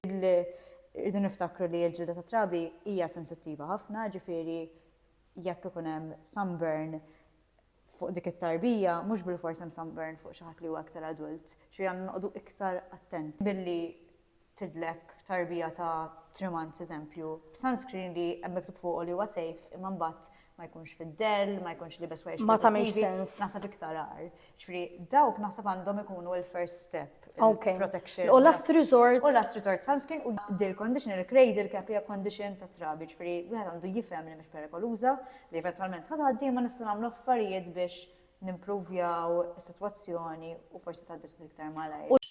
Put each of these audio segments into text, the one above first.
Irridu niftakru li l-ġilda tat-trabi hija sensittiva ħafna, ġifieri jekk ikun hemm sunburn fuq dik it-tarbija, mhux bilfors hemm sunburn fuq xi ħadd li huwa iktar adult. Ġifieri għandna noqogħdu iktar attenti billi tidlek tarbija ta' three months eżempju b'sunscreen li hemm miktub fuqu li huwa safe imma mbagħad ma jkunx fid-dell, ma jkunx libes wejx. Ma tagħmilx sens. Naħseb iktar għar. Ġifieri dawk naħseb għandhom ikunu l-first step. Okay. Protection. U last resort. U last resort sunscreen u dil condition il-cradle cap hija condition ta' trabi, ġifieri wieħed għandu jifhem li mhix perikoluża, li eventwalment ħad għaddi ma nista' nagħmlu affarijiet biex nimpruvjaw is-sitwazzjoni u forsi tgħaddi ftit iktar malajr.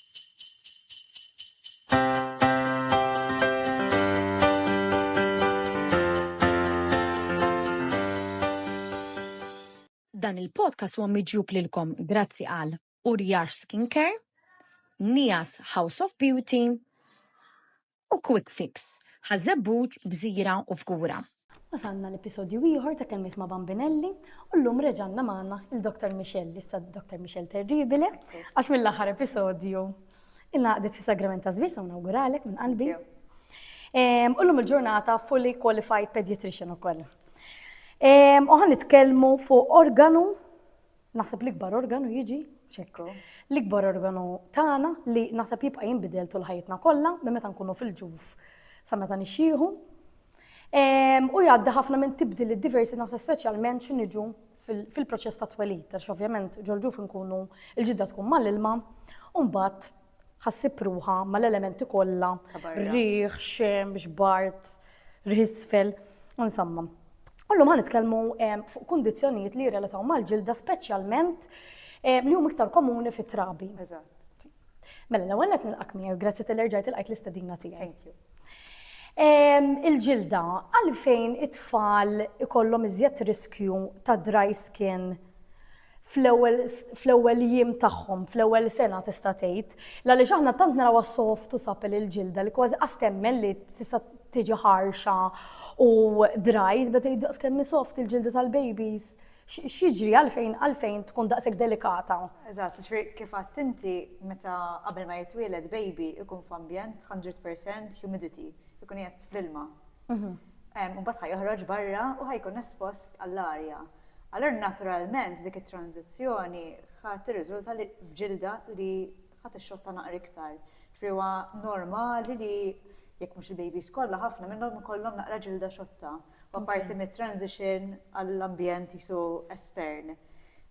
Dan il-podcast huwa miġjub lilkom grazzi għal Urjax Skincare, Nias House of Beauty, u Quick Fix, Ħaż-Żebbuġ, Gżira u Fgura. Wasalna l-episodju ieħor ta' Kelmiet ma' Bambinelli u llum reġa' għandna magħna il-Dr. Michelle, issa Dr. Michelle Terribile, għax mill-aħħar episodju ilna qgħadet fis-Sagrament ta' Żvir, so nawguralek minn qalbi. U llum il-ġurnata fully qualified pediatrician ukoll. U ħa nitkellmu fuq organu Naħseb l-ikbar organu jiġi ċekku. L-ikbar organu tagħna li naħseb jibqa' jinbidel tul ħajjitna kollha minn meta nkunu fil-ġuf sa meta nixxieħu. Ehm, u jgħaddi ħafna minn tibdil diversi naħseb speċjalment xi niġu fil-proċess ta' twelid, għax ovvjament ġol-ġuf nkunu il-ġidda tkun mal-ilma, u mbagħad Ħa ssib ruħha mal-elementi kollha, riħ, xemx, bart, riħ isfel, insomma. Ullum ħan nitkellmu fuq kundizzjonijiet li jirrelataw mal-ġilda speċjalment li hum iktar komuni fit-trabi. Mela, l-ewwel qed nilqak miegħu, grazzi tal erġajt il-qajt l-istedina tiegħi. Thank you. Il-ġilda, għalfejn it-tfal ikollhom iżjed riskju ta' dry skin fl-ewwel fl-ewwel jiem tagħhom, fl-ewwel sena tista' tgħid, l-għaliex aħna tant narawha soft u supple il-ġilda li kważi qas temmen li tista' tiġi ħarxa u dry, tibda tgħid daqs kemm hi soft il-ġilda tal-babies, x'jiġri għalfejn għalfejn tkun daqshekk delikata? Eżatt, jiġifieri kif għedt inti meta qabel ma jitwieled baby ikun f'ambjent hundred percent humidity, ikun qiegħed fl-ilma. Imbagħad ħa joħroġ barra u ħa jkun espost għall-arja. Allura naturalment dik it-tranżizzjoni ħa tirriżulta li f'ġilda li ħa tixxotta naqra iktar. Ġifieri huwa normali li jekk mhux il-babies kollha ħafna minnhom ikollhom naqra ġilda xotta. Huwa parti mit-transition għall-ambjent qisu estern.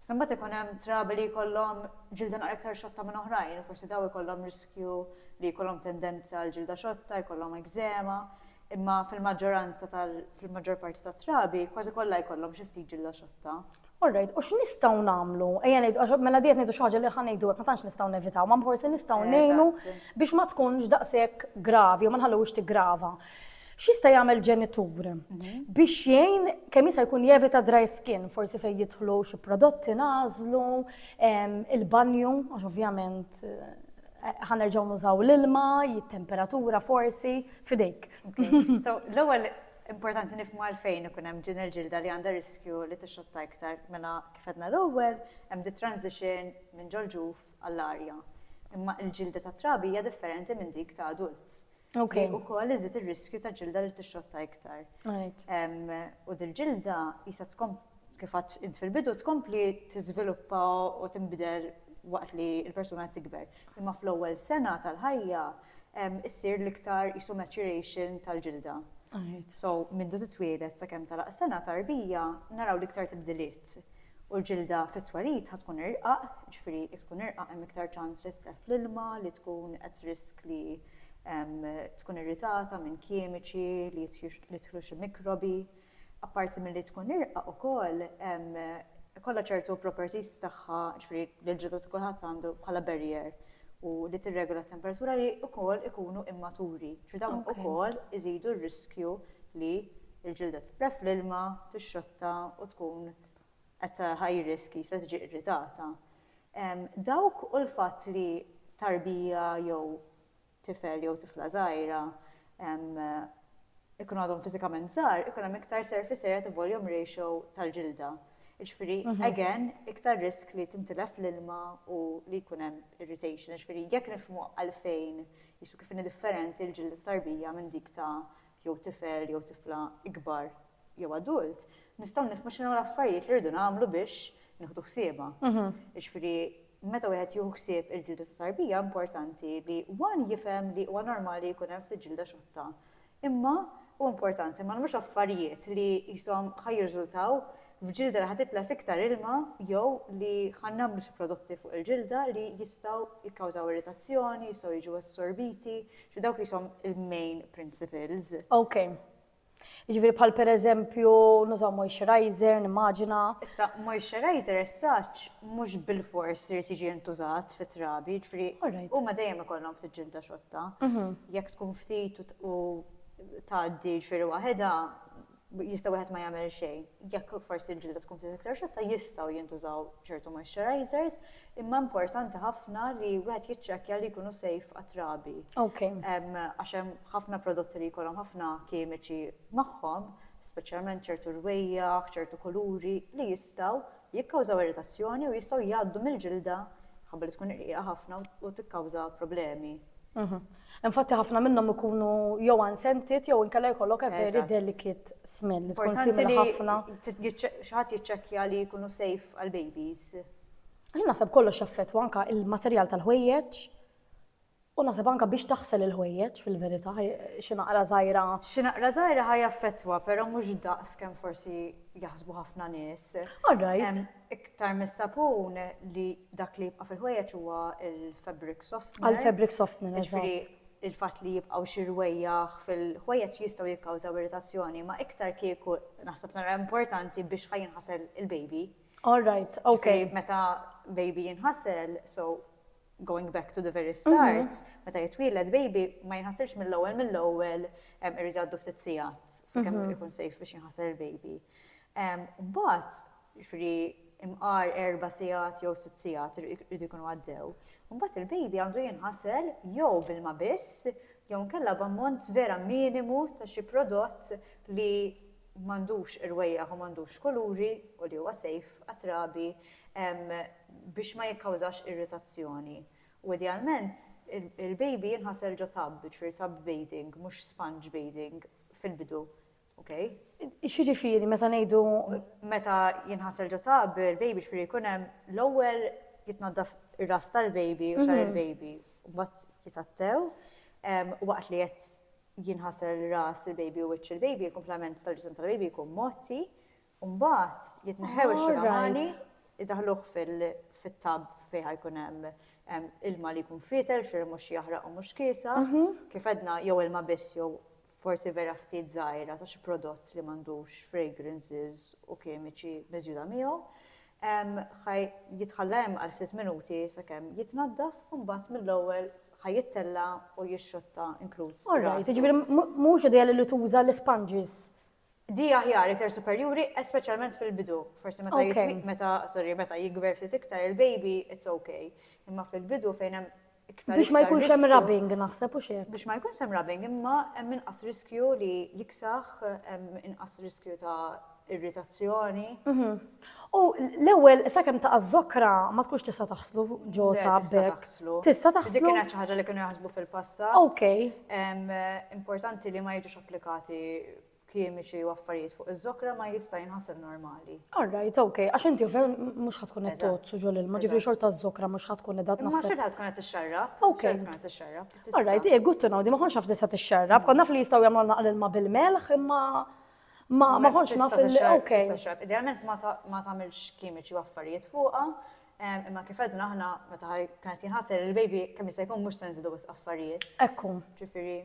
Issa mbagħad ikun hemm trabi li jkollhom ġilda naqra iktar xotta minn oħrajn u forsi dawn ikollhom riskju li jkollhom tendenza għall-ġilda xotta, jkollhom ekżema. Imma fil-maġġoranza tal-, fil-maġġor parti tat-trabi, kważi kollha jkollhom xi ftit ġilda xotta. All right, u x'nistgħu nagħmlu? Ejja ngħidu, għax mela di qed ngħidu xi ħaġa li ħa ngħidu hekk ma tantx nistgħu nevitaw, ma forsi nistgħu ngħinu biex ma tkunx daqshekk gravi u ma nħalluhiex tiggrava. X'jista' jagħmel ġenitur mhm. biex jgħin kemm jista' jkun jevita dry skin, forsi fejn jidħlu xi prodotti nażlu, il-banju, għax ovvjament eh, ħanerġgħu nużaw l-ilma, jittemperatura forsi, Fidejk. So, l-ewwel importanti nifmu għalfejn ikun hemm ġin il-ġilda li għandha riskju li tixxotta iktar mela kif għedna l-ewwel hemm di transition minn ġol-ġuf għall-arja. Imma l-ġilda ta' trabi hija differenti minn dik ta' adult. Ok. U koll iżid ir-riskju ta' ġilda li tixxotta iktar. U dil-ġilda jisa kif għedt int fil-bidu, tkompli tiżviluppa u tinbidel waqt li l-persuna qed tikber. Imma fl-ewwel sena tal-ħajja issir l-iktar qisu maturation tal-ġilda. So, mindu titwieled sakemm tagħlaq is-sena tarbija naraw l-iktar tibdiliet. U l-ġilda fit-twelid ħa tkun irqaq, jiġifieri jekk tkun irqaq hemm iktar ċans li titlef fl-ilma, li tkun at risk li tkun irritata minn kimiċi li jidħlu xi mikrobi. Apparti milli tkun irqaq ukoll ikollha ċertu properties tagħha, jiġifieri li l-ġilda ta' kulħadd għandu bħala barrier u li tirregola t-temperatura li wkoll ikunu immaturi, jiġifieri dawn ukoll iżidu r-riskju li l-ġilda titla' fl-ilma, tixxotta u tkun at a high risk jisha tiġi irritata. Dawk u l-fatt li tarbija jew tifel jew tifla żgħira ikunu għadhom fiżikament żgħar, ikun hemm iktar surface area to volume ratio tal-ġilda. Ġifieri, mhm. again, iktar risk li tintilef l-ilma u li jkun hemm irritation. Ġifieri, jekk nifhmu għalfejn jisu kif differenti l-ġilda tarbija minn dik ta' jew tifel jew tifla ikbar jew adult, nistgħu nifhmu x'inhu l-affarijiet li rridu nagħmlu biex nieħdu ħsieba. Mhm. Ġifieri, Meta wieħed jieħu ħsieb il-ġilda ta' tarbija importanti li one jifhem li huwa normali jkun hemm ftit ġilda xotta. Imma hu importanti ma nagħmlux affarijiet li qishom ħa jirżultaw f'ġilda li ħa titla' f'iktar ilma jew li ħa nagħmlu xi prodotti fuq il-ġilda li jistgħu jikkawżaw irritazzjoni, jistgħu jiġu assorbiti, ġifieri dawk qishom il-main principles. Ok. Jiġifieri bħal pereżempju nużaw moisturizer, nimmaġina. Issa moisturizer as such mhux bilfors irid jiġi intużat fit-trabi, jiġifieri huma dejjem ikollhom ftit ġilda xotta. Mhm. Jekk tkun ftit u tgħaddi ġifieri waħedha jista' wieħed ma jagħmel xejn. Jekk forsi l-ġilda tkun ftit iktar xotta jistgħu jintużaw ċertu moisturizers, imma importanti ħafna li wieħed jiċċekkja li jkunu safe għat-trabi. Okej. Għax hemm Ħafna prodotti li jkollhom ħafna kimiċi magħhom, speċjalment ċertu rwejjaħ, ċertu kuluri, li jistgħu jikkawżaw irritazzjoni u jistgħu jgħaddu mill-ġilda, minħabba li tkun irqiqa ħafna u tikkawża problemi. Infatti ħafna minnhom ikunu jew unscented jew inkella jkollok a very delicate smell. Importanti li ħafna. Xaħat jiċċekkja li jkunu safe għal babies. Jien naħseb kollox jaffettwa anka il-materjal tal-ħwejjeġ. U naħseb anke biex taħsel il-ħwejjeġ fil-verità, xi naqra żgħira. Xi naqra żgħira ħa jaffettwa, però mhux daqs kemm forsi jaħsbu ħafna nies. All right. Iktar mis-sapun li dak li jibqa' fil-ħwejjeġ huwa l-fabric softener. Għall-fabric softener, eżatt. Il-fatt li jibqgħu xi rwejjaħ fil-ħwejjeġ jistgħu jikkawżaw irritazzjoni, ma iktar kieku naħseb nara importanti biex ħa jinħasel il-baby. All right, ok. Meta baby jinħasel, so going back to the very mhm. start, meta jitwieled baby ma jinħasilx mill-ewwel mill-ewwel irid għaddu ftit sigħat sakemm mhm. ikun sejf biex jinħasel il-baby. Mbagħad, ġifri imqar erba' sigħat jew sitt sigħat irid ikunu għaddew. Mbagħad il-baby għandu jinħasel jew bil-ma biss jew nkella b'ammont vera minimu ta' xi prodott li m'għandux irwejjaħ u m'għandux kuluri u li huwa safe għat-trabi biex ma jikkawżax irritazzjoni. U idealment il-baby jinħasel ġo tub, jiġifieri tub bathing, mhux sponge bathing fil-bidu. Ok? X'jiġifieri meta ngħidu. Meta jinħasel ġo tub il-baby jiġifieri jkun hemm l-ewwel jitnaddaf ir-ras tal-baby u xagħar il-baby u mbagħad jitgħattew waqt li qed jinħasel ras il-baby u wiċċ il-baby, il-kumplament tal-ġisem tal-baby jkun mgħotti, u mbagħad jitneħħew ix-xugamani, idaħħluh fit-tub fejn ħa jkun hemm ilma li jkun fietel, xi mhux jaħraq u mhux kiesa, kif għedna jew ilma biss jew forsi vera ftit żgħira ta' xi prodott li m'għandux fragrances u kimiċi miżjuda miegħu. Ħa jitħalla hemm għal ftit minuti sakemm jitnaddaf u mbagħad mill-ewwel ħa jittella' u jixxotta inkluż. All right, jiġifieri mhux ideali li tuża l-isponges? Di aħjar, iktar superjuri, espeċjalment fil-bidu. Forsi meta jitwil, meta, sorry, meta jikber ftit iktar il-baby, it's okay. Imma fil-bidu fejn hemm Biex ma jkunx hemm rubbing naħseb u xejn. Biex ma jkunx hemm rubbing imma hemm inqas riskju li jiksaħ, hemm inqas riskju ta' irritazzjoni. Mhm. U l-ewwel sakemm taqa' żokra ma tkunx tista' taħslu ġo ta' bekk. Tista' taħslu. Dik kienet xi ħaġa li kienu jaħsbu fil-passat. Okej. Importanti li ma jiġux applikati kimiċi u affarijiet fuq iż-żokra ma jista' jinħaseb normali. All right, ok, għax inti ovvjament mhux ħatkun qed tozzu ġol ilma, ġifieri xorta żokra mhux ħatkun qed tnaħħa. Ma xorta tkun qed tixxarrab. Ok. Tkun qed tixxarrab. All right, eh, good to know, di ma konx naf li se tixxarrab, kont naf li jistgħu jagħmlu naqal ilma bil-melħ imma ma ma konx naf li ok. Idealment ma tagħmilx kimiċi u affarijiet fuqha, imma kif edna aħna meta kienet jinħasel il-baby kemm jista' jkun mhux se nżidu affarijiet. Ekku. Ġifieri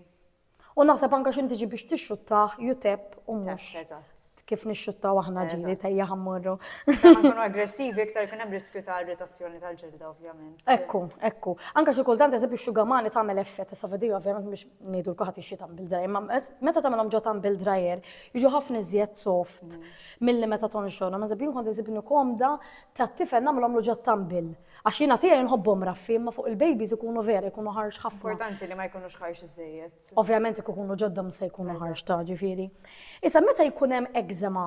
U naħseb anka x'inti ġi biex tixxuttah jutep u mhux kif nixxuttaw aħna ġili tajja ħammurru. Nkunu aggressivi iktar kien hemm riskju ta' irritazzjoni tal-ġilda ovvjament. Ekku, ekku. Anka xi kultant eżempju xugamani tagħmel effett issa vedi ovvjament biex ngħidu l-kuħat ixxi tagħmel dry, imma meta tagħmelhom ġo tagħmel dryer jiġu ħafna iżjed soft mm. milli meta tonxorhom. Eżempju kont iżibni komda ta' tifel nagħmlhom ġo tagħmel Għax jiena tiegħi nħobbhom raffi imma fuq il-babies ikunu vera jkunu ħarx ħafna. Importanti li ma jkunux ħarx iżżejjed. Ovvjament jekk ikunu ġodda mhux se jkunu ħarx ta' ġifieri. Issa meta jkun hemm eczema,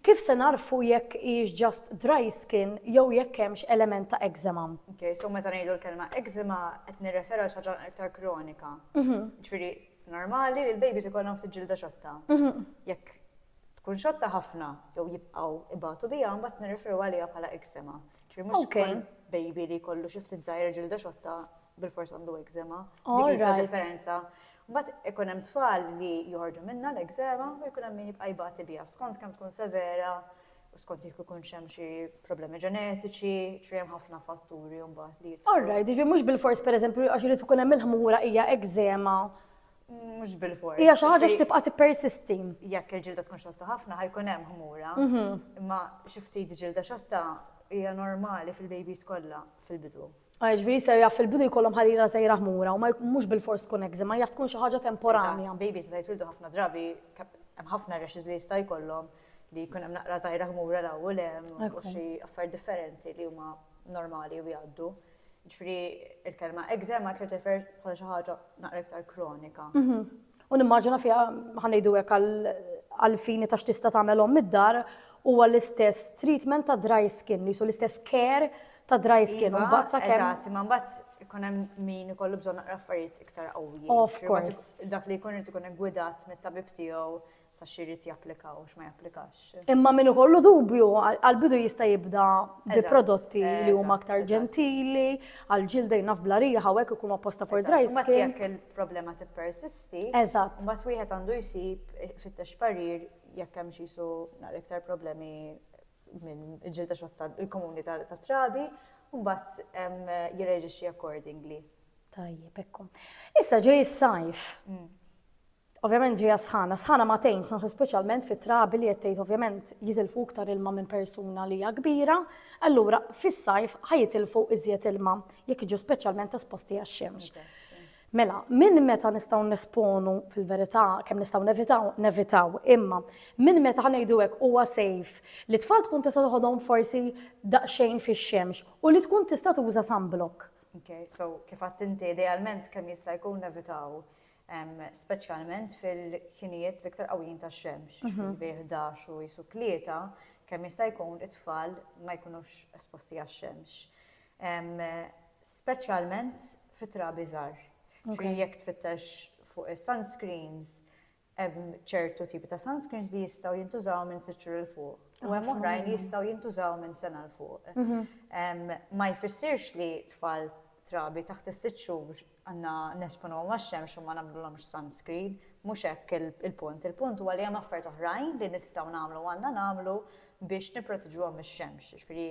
kif se nagħrfu jekk hijiex just dry skin jew jekk hemmx element ta' eczema? Ok, so meta ngħidu l-kelma eczema qed nirreferu għal xi ħaġa iktar kronika. Ġifieri normali li l-babies ikollhom ftit ġilda xotta. Jekk tkun xotta ħafna jew jibqgħu jbatu biha mbagħad nirreferu għaliha bħala eczema. Mhux kull baby li jkollu xi ftit żgħir ġilda xotta bil-fors għandu ekzema. Dik hija differenza. Mbagħad ikun hemm tfal li joħorġu minnha l-ekzema u jkun hemm min jibqa' jbati biha skont kemm tkun severa u skont jekk ikun hemm xi problemi ġenetiċi, ġri hemm ħafna fatturi mbagħad li jitlu. Alright, ġifieri mhux bil-fors pereżempju għax irid ikun hemm il-ħmura hija ekzema Mhux bil-fors. Hija xi ħaġa x'tibqa' tippersisti. Jekk il-ġilda tkun xotta ħafna ħajkun hemm ħmura. Mhm. Imma xi ftit ġilda xotta hija normali fil-babies kollha fil-bidu. Għajġ ah, veri ser jaf fil-bidu jkollhom ħarira sejra ħmura u ma mhux bil-fors tkun ma jaf tkun xi ħaġa temporanja. Babies meta jitwildu ħafna drabi hemm ħafna rashes li jista' jkollhom li jkun hemm naqra żgħira ħmura l-ewwel hemm u xi affarijiet differenti li huma normali u jgħaddu. Ġifieri l-kelma eczema tirreferi bħala xi ħaġa naqra iktar kronika. Mhm. U nimmaġina fiha ħa ngħidu hekk għall-fini ta' x'tista' tagħmel omm id-dar huwa l-istess treatment ta' dry skin, li su l-istess care ta' dry skin. Iva, Mbagħad sa kemm Eżatt, imma mbagħad ikun hemm min ikollu bżonn naqra affarijiet iktar qawwijin. Of Ġifieri course. Dak li jkun irid ikun iggwidat mit-tabib tiegħu ta' x'jrid japplika u x'ma japplikax. Imma min ikollu dubju, għall-bidu jista' jibda bi prodotti li huma aktar ġentili, għall-ġilda jien naf bla riħa u hekk ikunu apposta for dry skin. Imbagħad jekk il-problema tippersisti, imbagħad wieħed għandu jsib, ifittex parir jekk hemmx qisu naqra iktar problemi minn ġilda xotta l-komuni tat-trabi, u mbagħad jirreġixxi accordingly. Tajjeb, hekk hu. Issa ġej is-sajf. Ovvjament ġejja sħana, sħana ma tgħinx naħseb speċjalment fit-trabi li qed tgħid ovvjament jitilfu iktar ilma minn persuna li hija kbira, allura fis-sajf ħajitilfu iżjed ilma jekk jiġu speċjalment esposti għax-xemx. Mela, minn meta nistgħu nesponu fil-verità kemm nistgħu nevitaw, nevitaw, imma minn meta ħanejdu hekk huwa sejf li tfal tkun tista' toħodhom forsi daqsxejn fix-xemx u li tkun tista' tuża sunblock. Okay, so kif għadt inti idealment kemm jista' jkun nevitaw speċjalment fil-ħinijiet l-iktar qawwijin tax-xemx, bejn 11 u qisu tlieta, kemm jista' jkun it-tfal ma jkunux esposti għax-xemx. Speċjalment fit-trabi żgħar. Ġifieri jekk tfittex fuq is-sunscreens, hemm ċertu tipi ta' sunscreens li jistgħu jintużaw minn sitt xhur 'l fuq. U hemm oħrajn li jistgħu jintużaw minn sena 'l fuq. Ma jfissirx li tfal trabi taħt is-sitt xhur Għandna nesponuhom għax-xemx u ma nagħmlulhomx sunscreen. Mhux hekk il-punt. Il-punt huwa li hemm affarijiet oħrajn li nistgħu nagħmlu u għandna nagħmlu biex nipproteġuhom mix-xemx. Jiġifieri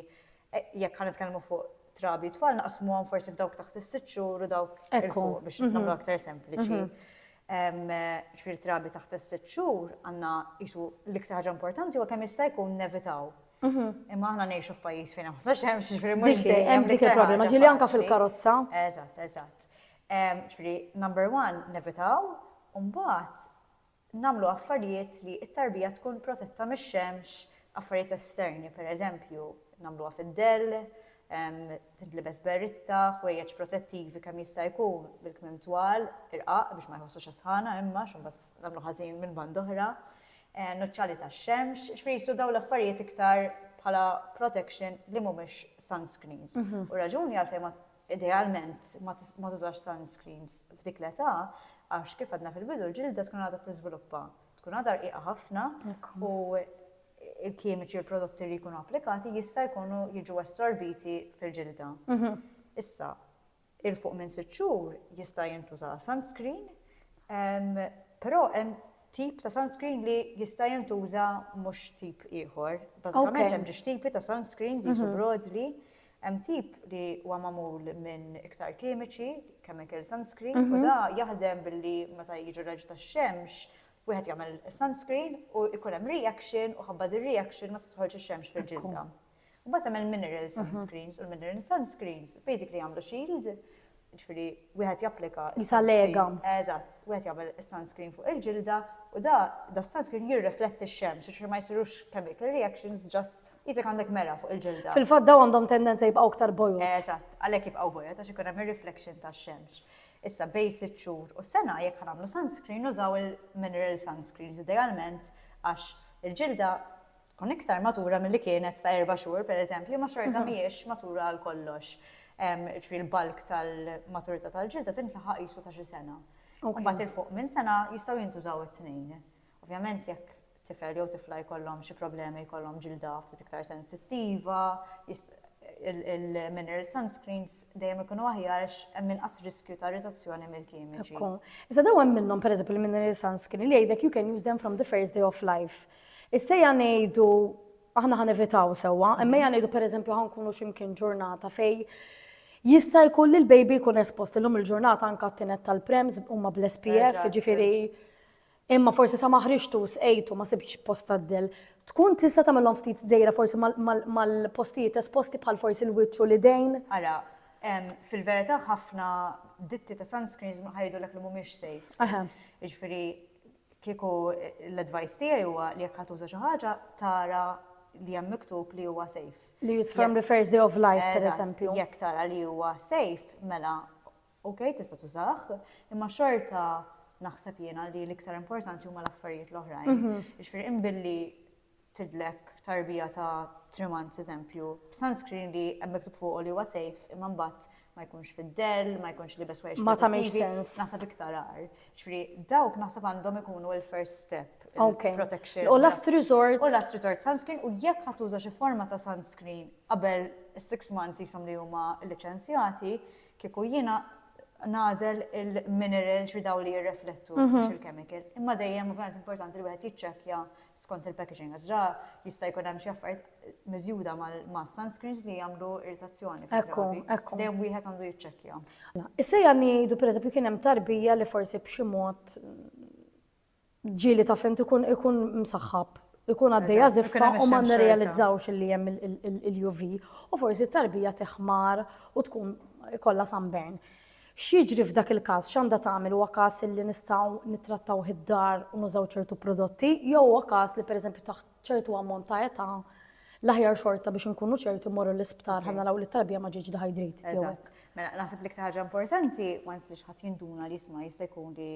jekk ħa nitkellmu fuq trabi u tfal naqsmuhom forsi f'dawk taħt is-sitt xhur u dawk il-fuq biex nagħmlu aktar sempliċi. Jiġifieri trabi taħt is-sitt xhur għandna qisu l-iktar ħaġa importanti huwa kemm jista' jkun nevitaw Mhm. Imma aħna ngħixu f'pajjiż fejn ħafna xemx, ġifieri mhux dejjem. Hemm dik il-problema ġieli anke fil-karozza. Eżatt, eżatt. Ġifieri number one nevitaw u mbagħad nagħmlu affarijiet li t-tarbija tkun protetta mix-xemx, affarijiet esterni, pereżempju, nagħmluha fid-dell, tintlibes berritta, ħwejjeġ protettivi kemm jista' jkun bil-kmim twal, irqaq biex ma jħossux sħana imma x'imbagħad nagħmlu ħażin minn band oħra. nuċċali tax-xemx, jiġifieri jsiru dawn l-affarijiet iktar bħala protection li mhumiex sunscreens. U raġuni għalfejn idealment ma tużax sunscreens f'dik l-età għax kif għadna fil-bidu l-ġilda tkun għadha tiżviluppa, tkun għadha rqiqa ħafna u il-kimiċi u prodotti li jkunu applikati jista' jkunu jiġu assorbiti fil-ġilda. Issa, 'il fuq minn sitt xhur jista' jintuża sunscreen, però hemm tip ta' sunscreen li jista' jintuża mhux tip ieħor. Bażikament hemm ġiex tipi ta' sunscreens li jiġu broadly, hemm tip li huwa magħmul minn iktar kimiċi, chemical sunscreen, u da jaħdem billi meta jiġi raġel tax-xemx wieħed jagħmel sunscreen u jkun hemm reaction u ħabba dir-reaction ma tidħolx ix-xemx fil-ġilda. Mbagħad hemm il-mineral sunscreens u l-mineral sunscreens basically jagħmlu shield, ġifieri wieħed japplika. Jisa lega. Eżatt, wieħed jagħmel is-sunscreen fuq il-ġilda u da da sunscreen jirrifletti x-xemx, ġifieri ma jsirux chemical reactions just jisek għandek mera fuq il-ġilda. Fil-fatt daw għandhom tendenza jibqgħu aktar bojod. Eżatt, għalhekk jibqgħu bojod għax ikun hemm ir-reflection tax-xemx. Issa bej sitt xhur u sena jekk ħanamlu sunscreen użaw il-mineral sunscreens idealment għax il-ġilda tkun iktar matura milli kienet ta' erba' xhur pereżempju, ma xorta mhijiex matura għal kollox. Ġifieri l-bulk tal-maturità tal-ġilda tintlaħaq qisu ta' xi sena. Imbagħad il fuq minn sena jistgħu jintużaw it-tnejn. Ovvjament jekk tifel jew tifla jkollhom xi problemi jkollhom ġilda ftit iktar sensittiva, il-mineral sunscreens dejjem ikunu aħjar għax hemm inqas riskju ta' irritazzjoni mill-kimiċi. Iżda dawn hemm minnhom pereżempju il-mineral sunscreen li jgħidlek you can use them from the first day of life. Issejja ngħidu, aħna ħa nevitaw sewwa, immejja ngħidu pereżempju ħa nkunu xi mkien ġurnata fej jista' jkun li l-baby jkun espost illum il-ġurnata anke għat-tined tal-prems huma bl-SPF, jiġifieri imma forsi sa ma ħriġtu sqejtu ma sibtx post tad-dell. Tkun tista' tagħmilhom ftit dejra forsi mal-postijiet esposti bħal forsi l-wiċċ u l-idejn. Ara, fil-verità ħafna ditti ta' sunscreens ħa jgħidulek li mhumiex safe. Jiġifieri Kieku l-advice tiegħi huwa li jekk ħa tuża xi ħaġa tara li hemm miktub li huwa safe. Li use firm refers day of life, per eżempju. Jekk tara li huwa safe, mela ok tista' tużah, imma xorta naħseb jiena li l-iktar importanti huma l-affarijiet l-oħrajn. Jiġifieri imbilli tidlek tarbija ta' three months eżempju b'sunscreen li hemm miktub fuqu li huwa safe imma mbagħad ma jkunx fid-dell, ma jkunx libes ħwejjeġ Ma tagħmilx sens. Naħseb iktar għar. Ġifieri dawk naħseb għandhom ikunu l-first step. Okay. Protection. U last resort. U last resort sunscreen u jekk ħadd tuża xi forma ta' sunscreen qabel six months jisom li huma liċenzjati, kieku jiena nagħżel il-minerals u daw li jirreflettu mhm. mhux il-chemical. Imma dejjem ovvjament importanti li wieħed jiċċekkja skont il-packaging għażra jista' jkun hemm xi affarijiet miżjuda ma' sunscreens li jagħmlu irritazzjoni. Ekku, ekku. Dejjem wieħed għandu jiċċekkja. Issejja ngħidu pereżempju kien hemm tarbija li forsi b'xi mod ġieli ta' fint ikun ikun msaħħab, ikun għaddejja żiffa u ma nirrealizzawx li hemm il-UV u forsi t-tarbija teħmar u tkun kollha sunburn. X'jiġri f'dak il-każ x'għandha tagħmel huwa każ li nistgħu nittrattaw id-dar u nużaw ċertu prodotti jew huwa każ li pereżempju taħt ċertu ammont ta' età l-aħjar xorta biex inkunu ċerti morru l-isptar ħa naraw li t-tarbija ma ġiġ dehydrated. Mela, naħseb li ħaġa importanti, once li xħat jinduna li jisma jista' jkun li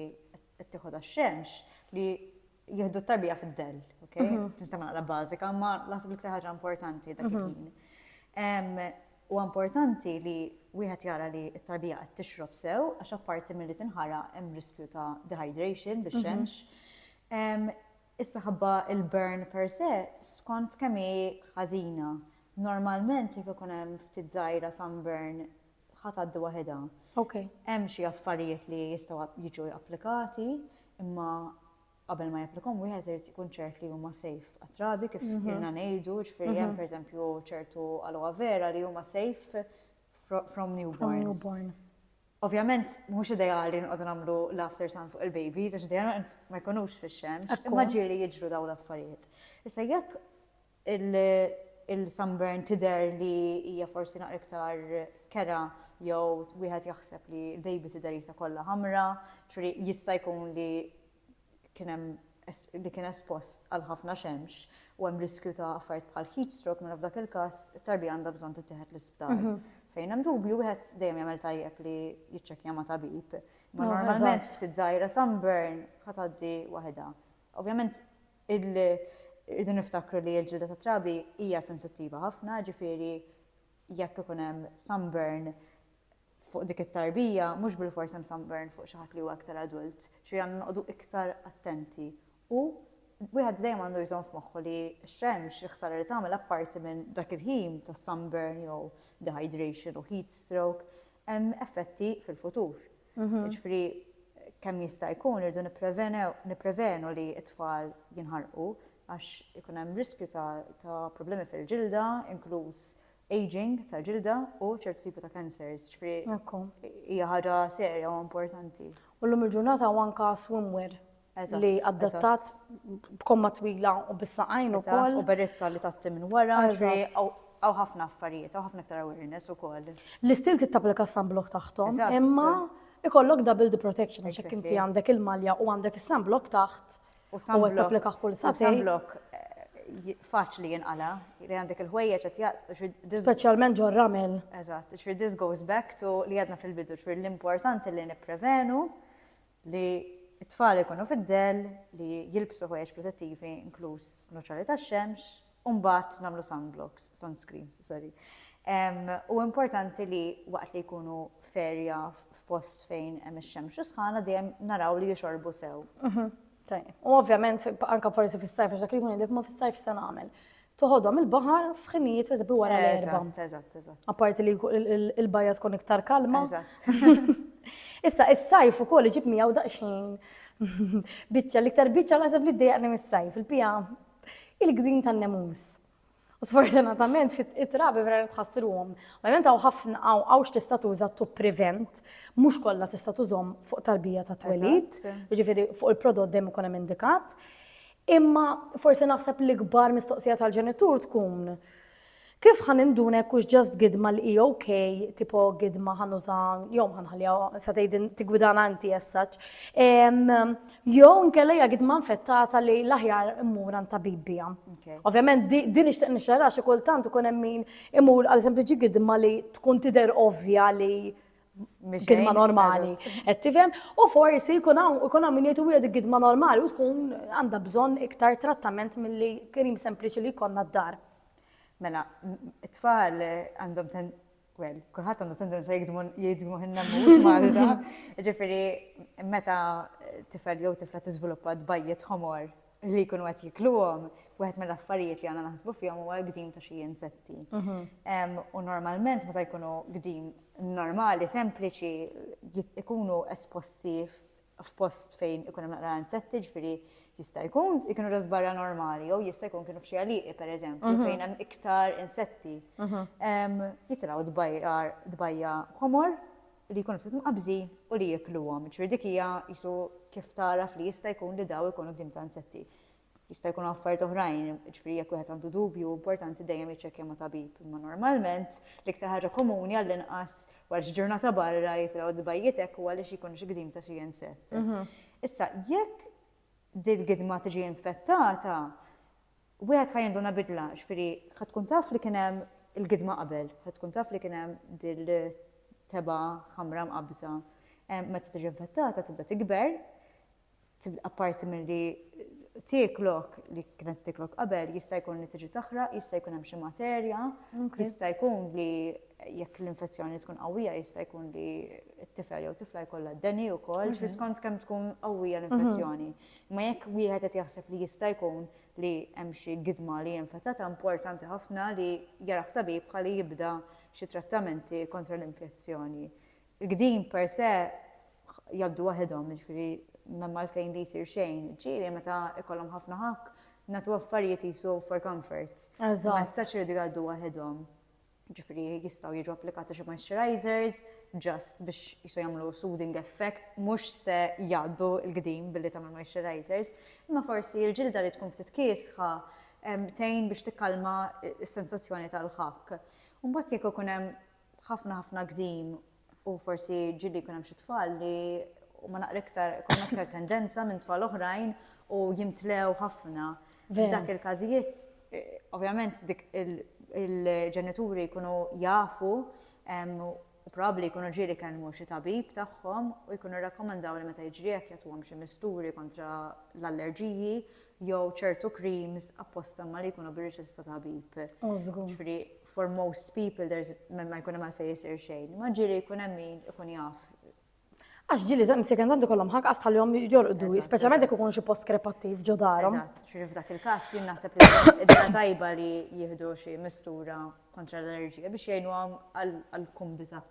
qed tieħu tax-xemx li jieħdu t-tarbija fid-dell, ok? Mhm. Tista' naqra bażika, ma naħseb l-iktar ħaġa importanti dak mhm. il-ħin. U importanti li wieħed jara li t-tarbija qed tixrob sew għax apparti milli tinħara hemm riskju ta' dehydration biex mhm. xemx. Issa ħabba il-burn per se skont kemm hi ħażina. Normalment jekk ikun hemm ftit żgħira sunburn ħa tgħaddi waħedha. Okay. Hemm xi affarijiet li jistgħu jiġu applikati, imma qabel ma japplikom wieħed irid ikun ċert li huma safe għat-trabi kif mhm. irna ngħidu, ġifieri hemm mhm. pereżempju ċertu aloe vera li huma safe from newborns. Ovvjament, mhux ideali nqogħdu nagħmlu l-after sun fuq il-babies, għax dejjem ma jkunux fix-xemx, imma ġieli jiġru daw l-affarijiet. Issa jekk Il-sunburn tidher li hija forsi naqra iktar kerha jew wieħed jaħseb li l-baby tidher qisha kollha ħamra, ġifieri jista' jkun li kien hemm li kien espost għal ħafna xemx u hemm riskju ta' affarijiet bħal heat stroke mela f'dak il-każ it-tarbija għandha bżonn tittieħed l-isptar. Fejn hemm dubju wieħed dejjem jagħmel tajjeb li jiċċekkja ma' tabib. Ma normalment ftit żgħira sunburn ħa tgħaddi waħedha. Ovvjament irridu niftakru li l-ġilda tat-trabi hija sensittiva ħafna, jiġifieri jekk ikun hemm sunburn fuq dik it-tarbija, mhux bilfors hemm sunburn fuq xi ħadd li huwa iktar adult, ġifieri għandna noqogħdu iktar attenti. U wieħed dejjem għandu jżomm f'moħħu li x-xemx, il-ħsara li tagħmel apparti minn dak il-ħin ta' sunburn jew dehydration u heatstroke, hemm effetti fil-futur. Jiġifieri kemm jista' jkun irridu nipprevenu li t-tfal jinħarqu għax ikun hemm riskju ta' problemi fil-ġilda, inkluż ageing tal-ġilda u ċertu tipi ta' cancers. Jiġifieri hija ħaġa serja u importanti. U llum il-ġurnata hawn anke swimwear li adattat b'komma twila u bis-saqajn ukoll. U beretta li tatti minn wara, għaw ħafna affarijiet, għaw ħafna aktar awareness ukoll. L-istil tittaplika sunblock taħtom, imma ikollok double the protection, għax inti għandek il-malja u għandek is-sunblock taħt. U taplika kull sati. Sunblock eh, faċli jinqala, li għandek il-ħwejjeġ qed jaqt. Speċjalment ġor ramel. Eżatt, ġifier this goes back to li għadna fil-bidu, ġifier l-importanti li nipprevenu Li t-tfal ikunu fid-dell, li jilbsu ħwejjeġ protettivi inkluż nuċali tax-xemx, u mbagħad nagħmlu sunblocks, sunscreens, sorry. U importanti li waqt li jkunu ferja f'post fejn hemm ix-xemx u sħana dejjem naraw li jixorbu sew. Mhm. U ovvjament anke forsi fis-sajf għax dak li jkun dik ma fis-sajf se nagħmel. toħodhom il-baħar f'ħinijiet per eżempju wara l-erba. Eżatt, eżatt. Apparti li l-bajja tkun iktar kalma. Issa, is-sajf ukoll iġib miegħu daqsxejn biċċa l-iktar biċċa naħseb li ddejjaqni mis-sajf, il-pija il-gdin tan-nemus. U sfortunatament fit-trabi vera tħassruhom. Ovvjament hawn ħafna hawn hawn x'tista' tuża to prevent, mhux kollha tista' tużhom fuq tarbija ta' twelid, jiġifieri fuq il-prodott dejjem ikun hemm indikat. Imma forsi naħseb l-ikbar mistoqsija tal-ġenitur tkun Kif ħan induna jekk hux ġast gidma li hi ok, tipo gidma ħan uża jew ħanħalliha sa tgħidin tigwidana inti essaċ. Jew nkella hija gidma infettata li l-aħjar immur għand tabib biha. Ovvjament din nixtieq nixxara xi kultant ikun hemm min imur għal sempliċi gidma li tkun tidher ovvja li gidma normali, qed tifhem, u forsi jkun hawn min jgħid wieħed gidma normali u tkun għandha bżonn iktar trattament milli krim sempliċi li jkollna d-dar. Mela, it-tfal għandhom ten, well, kulħadd għandu tendenza jgidmu ħinna mhux Malta, ġifieri meta tifel jew tifla tiżviluppa tbajjet ħomor li jkunu qed jikluhom, wieħed mill-affarijiet li għandna naħsbu fihom huwa l-gdim ta' xi insetti. Mhm. U normalment meta jkunu gdim normali, sempliċi, ikunu esposti f'post fejn ikun hemm naqra insetti, ġifieri jista' jkun ikunu ġos barra normali, jew jista' jkun kienu f'xi għaliqi pereżempju mhm. fejn hemm iktar insetti. Mhm. Jitilgħu dbajjar dbajja ħomor li jkunu ftit mqabbżin u li jiekluhom. Jiġifieri dik hija qisu kif tagħraf li jista' jkun li dawl ikunu tim ta' insetti. Jista' jkunu affarijiet oħrajn, jiġifieri jekk wieħed għandu dubju importanti dejjem jiċċekkja ma' tabib. Imma normalment l-iktar ħaġa komuni għall-inqas wara xi ġurnata barra jitilgħu d-dbajjietek u għaliex ikun xi gdim ta' xi insett. Issa jekk din gidma tiġi infettata, wieħed ħa jinduna bidla, ġifieri ħa tkun taf li kien hemm il-gidma qabel, ħa tkun taf li kien hemm dil-tebgħa ħamra mqabbża. Meta tiġi infettata tibda tikber, apparti milli tieklok li kienet tieklok qabel, jista' jkun li tiġi taħraq, jista' jkun hemm xi materja, jista' jkun li Jekk l-infezzjoni tkun qawwija jista' jkun li t-tifel jew tifla jkollha d-deni wkoll mhm. skont kemm tkun qawwija l-infezzjoni. Mhm. Ma jekk wieħed qed jaħseb li jista' jkun li hemm xi gidma li infettata importanti ħafna li jaraf tabib ħalli jibda xi trattamenti kontra l-infezzjoni. Il-gdin per se jabdu waħedhom, ġifiri memma l-fejn li jisir xejn, ġiri meta ikollhom ħafna ħak, natu affarijiet jisu for comfort. Eżatt. Messaċ li għaddu waħedhom. Ġifieri jistgħu jiġu applikati xi moisturizers just biex jisu jagħmlu soothing effect, mhux se jgħaddu l-gdim billi tagħmel moisturizers, imma forsi l-ġilda li tkun ftit kiesħa tgħin biex tikkalma s-sensazzjoni tal-ħakk. Mbagħad jekk ikun hemm ħafna ħafna gdim u forsi ġili jkun hemm xi tfal li huma naqra iktar ikun aktar tendenza minn tfal oħrajn u jimtlew ħafna. F'dak il-każijiet, eh, ovvjament dik il-ġenituri jkunu jafu u probabbli jkunu ġieli kellmu xi tabib tagħhom u jkunu rakkomandaw li meta jiġri hekk jagħtuhom xi misturi kontra l-allerġiji jew ċertu creams apposta ma li jkunu bir-riċetta tabib. Ġifieri for most people there's ma jkun hemm għalfejn isir xejn. Ma ġiri jkun hemm min ikun jaf. Għax ġili ta' msiken tanti kollhom ħak għas tal-jom jorqdu, speċjalment jekk ikun xi post krepattiv ġo darhom. Ġiri f'dak il-każ jien naħseb li id-dina tajba li jieħdu xi mistura kontra l-allerġija biex jgħinu għal-kumdita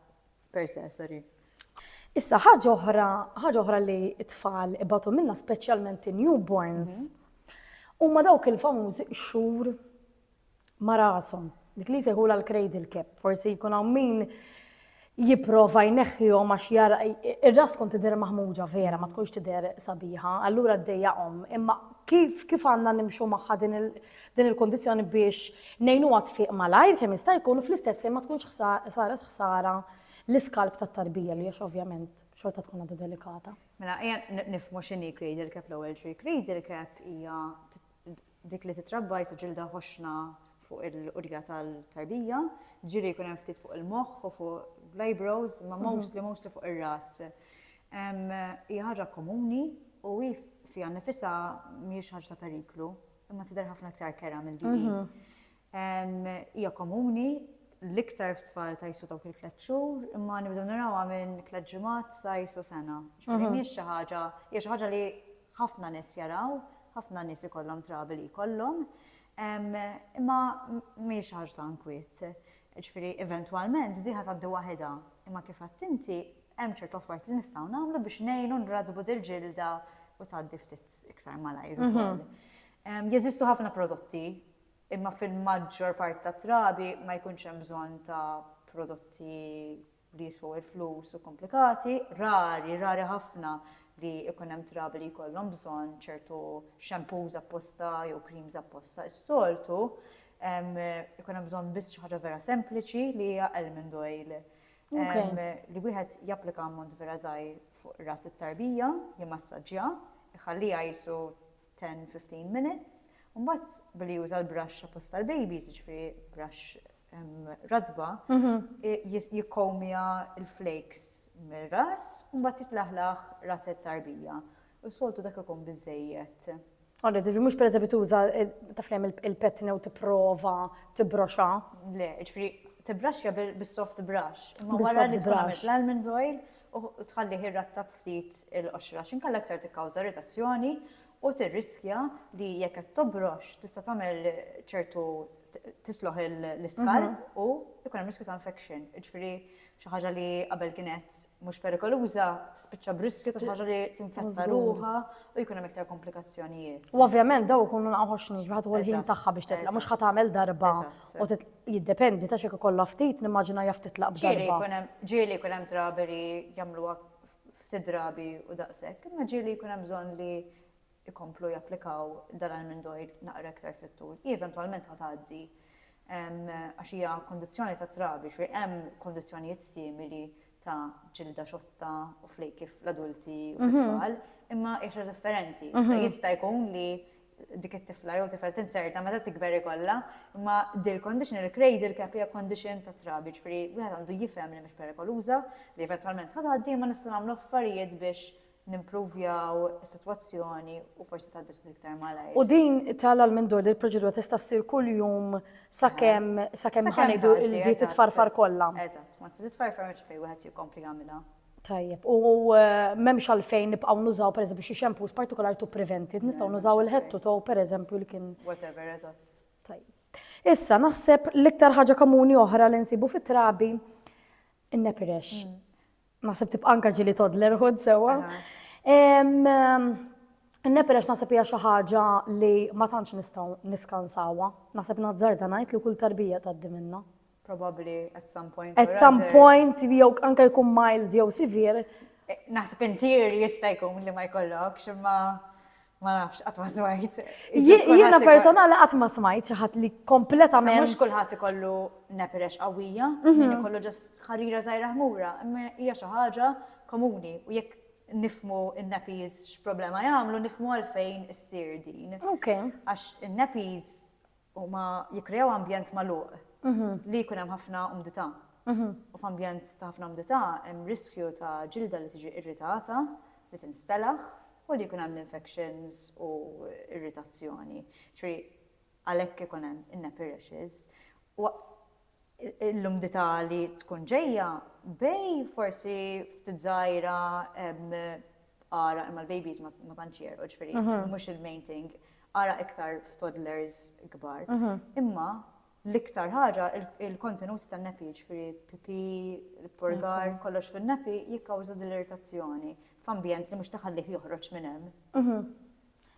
per se, sorry. Issa ħaġa oħra, ħaġa oħra li t-tfal ibatu minna speċjalment newborns, mhm. huma dawk il-famużi xhur ma' rashom. Dik li jsejħulha l-cradle cap, forsi jkun hawn min jipprova jneħħihom għax jara ir-ras tkun tidher maħmuġa vera, ma tkunx tidher sabiħa, allura ddejjaqhom. Imma kif kif għandna nimxu magħha din il-kundizzjoni biex ngħinuha tfiq malajr kemm jista' jkun u fl-istess ħin ma tkunx saret ħsara l-iskalb tat-tarbija li għax ovvjament xorta tkun għadha delikata. Mela, ejja nifhmu x'inhi cradle cap l-ewwel xi cradle cap hija dik li titrabba jisa ġilda ħoxna fuq il-qudja tal-tarbija, ġiri jkun hemm ftit fuq il-moħħ u fuq l-eyebrows, ma mhm. mostly mostly fuq ir-ras. Hija ħaġa komuni u hi fiha nifisha mhijiex ħaġa ta' periklu, imma tidher ħafna iktar kera mill-DE. Mhm. Hija komuni, l-iktar f'tfal ta' jisu dawk il-tliet xhur, imma nibdew narawha minn tliet ġimgħat sa jisu sena. Ġifieri mhijiex xi ħaġa, hija xi ħaġa li ħafna nies jaraw, ħafna nies ikollhom trabi li jkollhom, imma mhijiex xi ħaġa ta' inkwiet. Ġifieri eventwalment din ħa tgħaddi waħedha, imma kif għedt inti, hemm ċertu affarijiet li nistgħu nagħmlu biex ngħinu nrattbu dil-ġilda u tgħaddi ftit iktar malajr ukoll. Jeżistu ħafna prodotti imma fil-maġġor parti tat-trabi ma jkunx hemm bżonn ta' prodotti li jiswew il-flus u komplikati, rari, rari ħafna li jkun hemm trabi li jkollhom bżonn ċertu shampoos apposta jew creams apposta. Is-soltu jkun hemm bżonn biss xi ħaġa vera sempliċi li hija almond oil li wieħed japplika ammont vera żgħir fuq ras it-tarbija, jimassaġġja, iħalliha qisu 10, 15 minutes, u mbagħad billi juża l-brush apposta l-babies, ġifieri brush radba, jikkomja l-flakes mir-ras, u mbagħad jitlaħlaħ ras it-tarbija. U soltu dak ikun biżejjed. Għalli, ġifieri mhux pereżempju tuża taflem il-petna u tipprova tibroxa. Le, ġifieri tibbraxja bis-soft brush. Imma wara li tibbrax l-almond oil, u tħallih irrattab ftit il-qoxra għax inkella iktar tikkawża irritazzjoni u tirriskja li jekk qed tobrox tista' tagħmel ċertu tisloħ l-iskar mhm. u ikun hemm riskju ta' infection. Ġifieri xi ħaġa li qabel kienet mhux perikoluża spiċċa briskju ta' xi ħaġa li tinfetta ruha u jkun hemm iktar komplikazzjonijiet. U ovvjament daw ikunu naqgħux niġ wieħed u l-ħin tagħha biex titla' mhux ħadd tagħmel darba u Jiddependi, tax jekk ikollha ftit, nimmaġina jaf titlaq b'darba. Ġieli jkun hemm, ġieli jkun hemm drabi li jagħmluha ftit drabi u daqshekk, imma ġieli jkun hemm bżonn li jkomplu japplikaw dan almond oil naqra iktar fit-tul. Hi eventwalment ħa tgħaddi għax hija kondizzjoni ta' trabi, xi hemm kondizzjonijiet simili ta' ġilda xotta u flejki fl-adulti u fit-tfal, imma hija xi ħaġa differenti. Issa jista' jkun li dik it-tifla jew tifel tinzerta meta tikber ikollha, imma din il-condition, il-cradle cap hija condition tat-trabi, jiġifieri wieħed għandu jifhem li mhix perikoluża, li eventwalment ħa tgħaddi imma nistgħu nagħmlu affarijiet biex nimpruvjaw is-sitwazzjoni u forsi tgħaddi ftit iktar malajr. U din tala l minn dur li l-proċedura tista' ssir kuljum sakemm sakemm ħanidu li titfarfar kollha. Eżatt, ma tista' titfarfar mhux fejn wieħed jikkompli jagħmilha. Tajjeb, u eh, m'hemmx għalfejn nibqgħu nużaw pereżempju xi xampus partikolari tu prevented, nistgħu nużaw il-head to toe pereżempju li kien. Whatever, eżatt. Tajjeb. Issa naħseb l-iktar ħaġa komuni oħra li nsibu fit-trabi in-nepirex. Mm. Naħseb tibqa' anke ġili toddlerhood sewwa. Nepel għax naħseb hija xi ħaġa li ma tantx nistgħu niskansawha. Naħseb nazzarda ngħid li kull tarbija tgħaddi minnha. Probabbli at some point. At some point jew anke jkun mild jew severe. Eh, naħseb intier jista' jkun li ma jkollokx imma Ma nafx, qatt ma smajt. Jiena personali qatt ma smajt xi ħadd li kompletament. Mhux kulħadd ikollu nepirex qawwija, mhm. min ikollu ġast ħarira żgħira ħmura, imma hija xi ħaġa komuni u jekk nifmu in-nappies x'problema jagħmlu, nifmu għalfejn issir din. Għax in-nappies Huma jikkreaw ambjent magħluq li jkun hemm ħafna umdità. U f'ambjent ta' ħafna umdità hemm riskju ta' ġilda li tiġi irritata, li tinstelaħ u li jkun hemm l-infections u irritazzjoni. Ġifieri għalhekk ikun hemm in-nappy rashes. l-umdità li tkun ġejja bej forsi ftit żgħira ara imma l-babies ma tantx jerqu ġifieri mhm. mhux il-main thing ara iktar f'toddlers kbar. Mhm. Imma l-iktar ħaġa il-kontenut tan-nepi ġifieri pipi, purgar, kollox fin-nepi jikkawża dil-irritazzjoni f'ambjent li mhux taħallih joħroġ minn hemm. Mhm.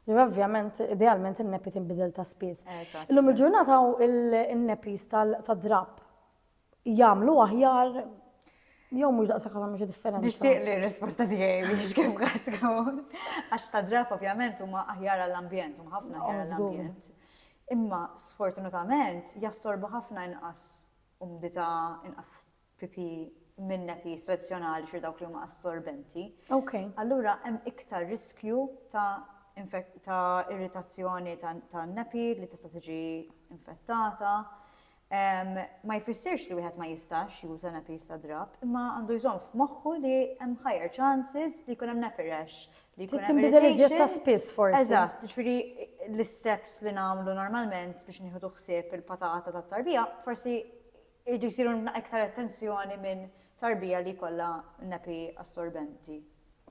Li ovvjament, idealment in-nepi tinbidel ta' spiss. Illum il-ġurnata il-nepis tal-drab jagħmlu aħjar jew mhux daqsa kollha mhux differenti. Nixtieq li r-risposta tiegħi biex kif qed tkun. Għax ta' drab ovvjament huma aħjar għall-ambjent, huma ħafna oh, aħjar għall-ambjent. Imma sfortunatament jassorbu ħafna inqas umdità, inqas PP minn NAPs tradizzjonali xi dawk li huma assorbenti. Okay. Allura hemm iktar riskju ta' ta' irritazzjoni ta' nepi li tista' tiġi infettata. Ma jfissirx li wieħed ma jistax juża nepi sa drab, imma għandu jżomm f'moħħu li hemm higher chances li jkun hemm nepi rash li jkun hemm irritation. ta' spiss forsi. Eżatt, ġifieri l-isteps li nagħmlu normalment biex nieħdu ħsieb il-patata tat-tarbija, forsi Iridu jsiru iktar attenzjoni minn tarbija li jkollha nepi assorbenti.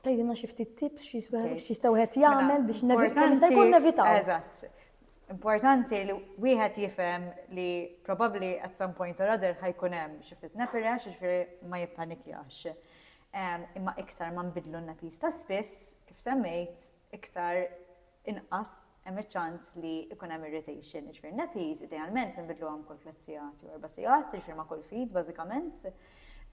Tgħidilna xi ftit tips x'jista' wieħed jagħmel biex jista' jkun nevitaw. Eżatt. Importanti li wieħed jifhem li probabbli at some point or other ħajkun hemm xi ftit nepi rash, jiġifieri ma jippanikjax. Imma iktar ma nbiddlu n-nepis ta' spiss, kif semmejt, iktar inqas hemm iċ-ċans li jkun hemm irritation. Jiġifieri nappies idealment inbidluhom kull tliet sigħat jew erba' sigħat, jiġifieri ma' kull ftit bażikament.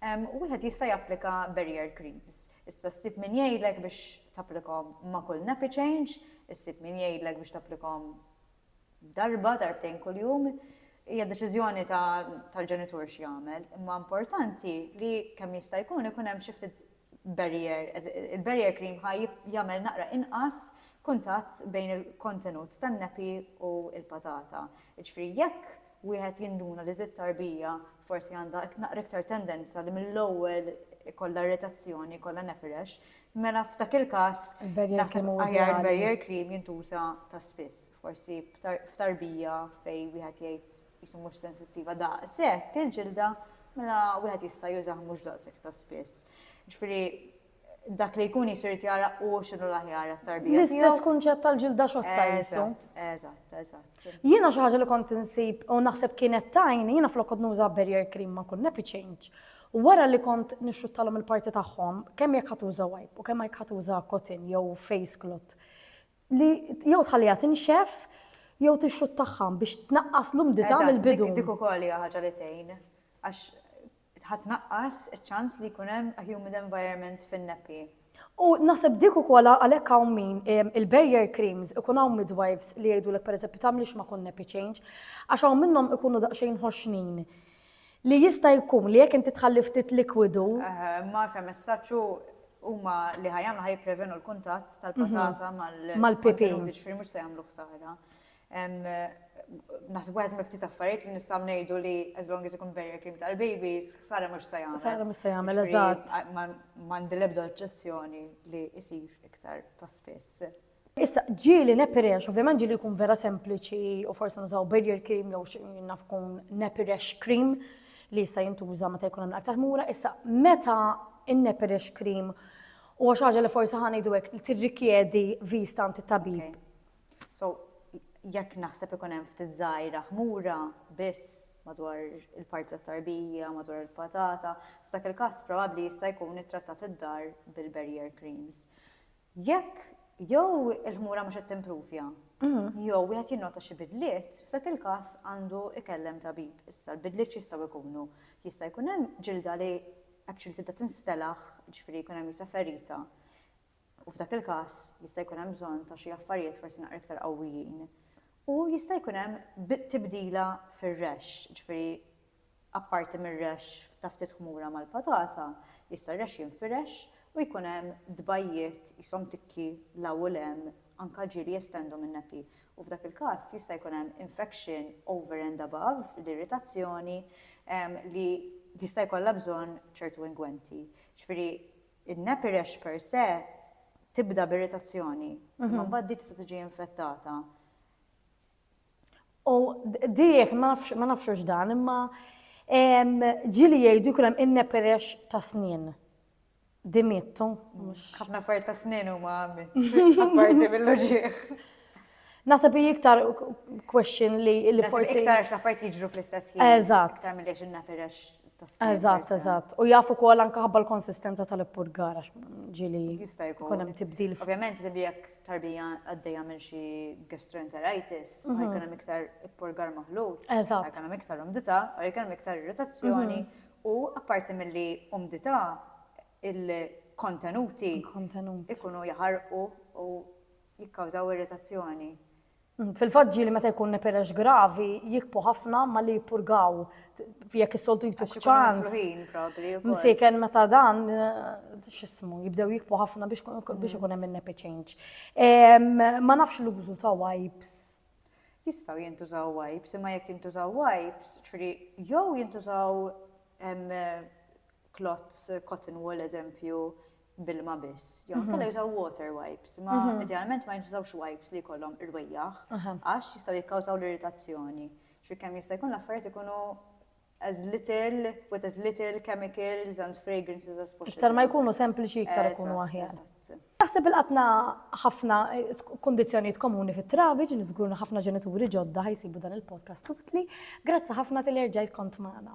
U wieħed jista' japplika barrier creams. Issa ssib min jgħidlek biex tapplikhom ma' kull nappy change, issib min jgħidlek biex tapplikhom darba, darbtejn kuljum. Hija deċiżjoni tal-ġenitur x'jagħmel, imma importanti li kemm jista' jkun ikun hemm xi ftit barrier, il-barrier cream ħa jagħmel naqra inqas kuntatt bejn il-kontenut tan-nappy u l-patata. Jiġifieri jekk wieħed jinduna li dit-tarbija forsi għandha naqra iktar tendenza li mill-ewwel ikollha irritazzjoni, ikollha nappy rash, mela f'dak il-każ naħseb aħjar barrier cream jintuża ta' spiss, forsi f'tarbija fejn wieħed jgħid qisu mhux sensittiva daqshekk il-ġilda, mela wieħed jista' jużah mhux daqshekk ta' spiss. Ġifieri dak li jkun jisu jrid jara u x'inhu l-aħjar għat-tarbija. L-istess kunċett tal-ġilda xotta jisu. Eżatt, eżatt. Jiena xi ħaġa li kont insib u naħseb kienet tajn, jiena flok kont nuża barrier cream ma kun nappy change. U wara li kont nixxuttalhom il-parti tagħhom, kemm jekk ħatuża wipe u kemm jekk ħatuża cotton jew face cloth, li jew tħalliha tinxef jew tixxuttaħħa biex tnaqqas l-umdità mill-bidu. Dik ukoll hija ħaġa li tgħin għax ħatnaqqas iċ-ċans li jkun hemm a humid environment fin-neppi. U naħseb dik ukoll għalhekk hawn min il-barrier creams ikun hawn midwives li jgħidulek pereżempju tagħmlix ma' kun nappy change għax hawn minnhom ikunu daqsxejn ħoxnin Li jista' jkun li jekk inti tħalli ftit likwidu. Eħe, imma f'hemm messaġġ u huma li ħa jagħmlu ħa jipprevenu l-kuntatt tal-patata mal. Mal-pipi. Ġifieri mhux se jagħmlu ħsara. Naħseb wieħed mill-ftit affarijiet li nistgħu ngħidu li as long as ikun barrier cream tal-babies, ħsara mhux se jagħmel. Ħsara mhux se jagħmel, eżatt. M'għandi l-ebda oġġezzjoni li jsir iktar ta' spiss. Issa, ġieli nepirex, ovvjament ġieli jkun vera sempliċi u forsi nużaw barrier cream jew naf kun nepirex cream li jista' jintuża meta jkun hemm aktar ħmura. Issa, meta in-nepirex cream u xi ħaġa li forsi ħan ngħidu hekk tirrikjedi vista għand it-tabib. So, jekk naħseb ikun hemm ftit żgħira ħmura biss madwar il-parti tat-tarbija, madwar il-patata, f'dak il-każ probabbli jista' jkun ittrattat id-dar bil-barrier creams. Jekk jew il-ħmura mhux qed timpruvja jew wieħed jinnota xi bidliet, f'dak il-każ għandu jkellem tabib. Issa l-bidliet x'jistgħu jkunu? Jista' jkun hemm ġilda li actually tibda tinstelaħ, jiġifieri jkun hemm jisha ferita, u f'dak il-każ jista' jkun hemm bżonn ta' xi affarijiet forsi naqra iktar qawwijin. U jista' jkun hemm tibdila fir-rexx, jiġifieri Apparti mir-rexx ta' ftit ħmura mal-patata, jista' r-rexx jinfirex u jkun hemm tbajjiet qishom tikki 'l hawn u 'l hemm, anke ġieli jestendu min-neppi, u f'dak il-każ jista' jkun hemm infection over and above l-irritazzjoni li jista' jkollha bżonn ċertu ingwenti. Ġifieri n-neppi rash per se tibda b'irritazzjoni, imma mbagħad din tista' tiġi infettata. U diħ, ma nafxux dan, imma ġili jgħidu jkun hemm inneperex ta' snin. Dimittu. Ħafna affarijiet ta' snin huma apparti mill-loġieħ. Nasab iktar question li li forsi. Iktar għax l-affarijiet jiġru fl-istess ħin. Eżatt. Iktar mill-li inneperex ta' snin. Eżatt, eżatt. U jafu kol anka ħabba l-konsistenza tal-ippurgar għax ġili. Jista' jkun hemm tibdil. Ovvjament, jekk tarbija għaddejja minn xi gastroenteritis, ma jkun hemm iktar ippurgar maħlut, ma jkun hemm iktar umdità, u jkun hemm iktar irritazzjoni, u apparti milli umdità, il-kontenuti ikunu jaħarqu u jikkawżaw irritazzjoni. Fil-fatt ġieli meta jkun neperex gravi jikbu ħafna ma li jippurgaw jekk is-soltu jtuk ċans. Msiken meta dan x'ismu jibdew jikbu ħafna biex mm. ikun hemm in-nepe change. Ma nafx l-użu ta' wipes. Jistgħu jintużaw wipes, imma jekk jintużaw wipes, ġifieri jew jintużaw klots cotton wool eżempju, bilma biss, jew mhm. kellha jużaw water wipes, ma mhm. idealment ma jintużawx wipes li jkollhom irwejjaħ għax jistgħu jikkawżaw l-irritazzjoni. Xi kemm jista' jkun l-affarijiet ikunu as little, with as little chemicals and fragrances as possible. Iktar ma jkunu sempliċi, iktar ikunu aħjar. Naħseb il-qatna ħafna eh, kondizjoniet komuni fit trabiġ li żgurna ħafna ġenituri ġodda ħajsibu dan il-podcast tubtli. Grazzi ħafna tal-erġajt kont magħna.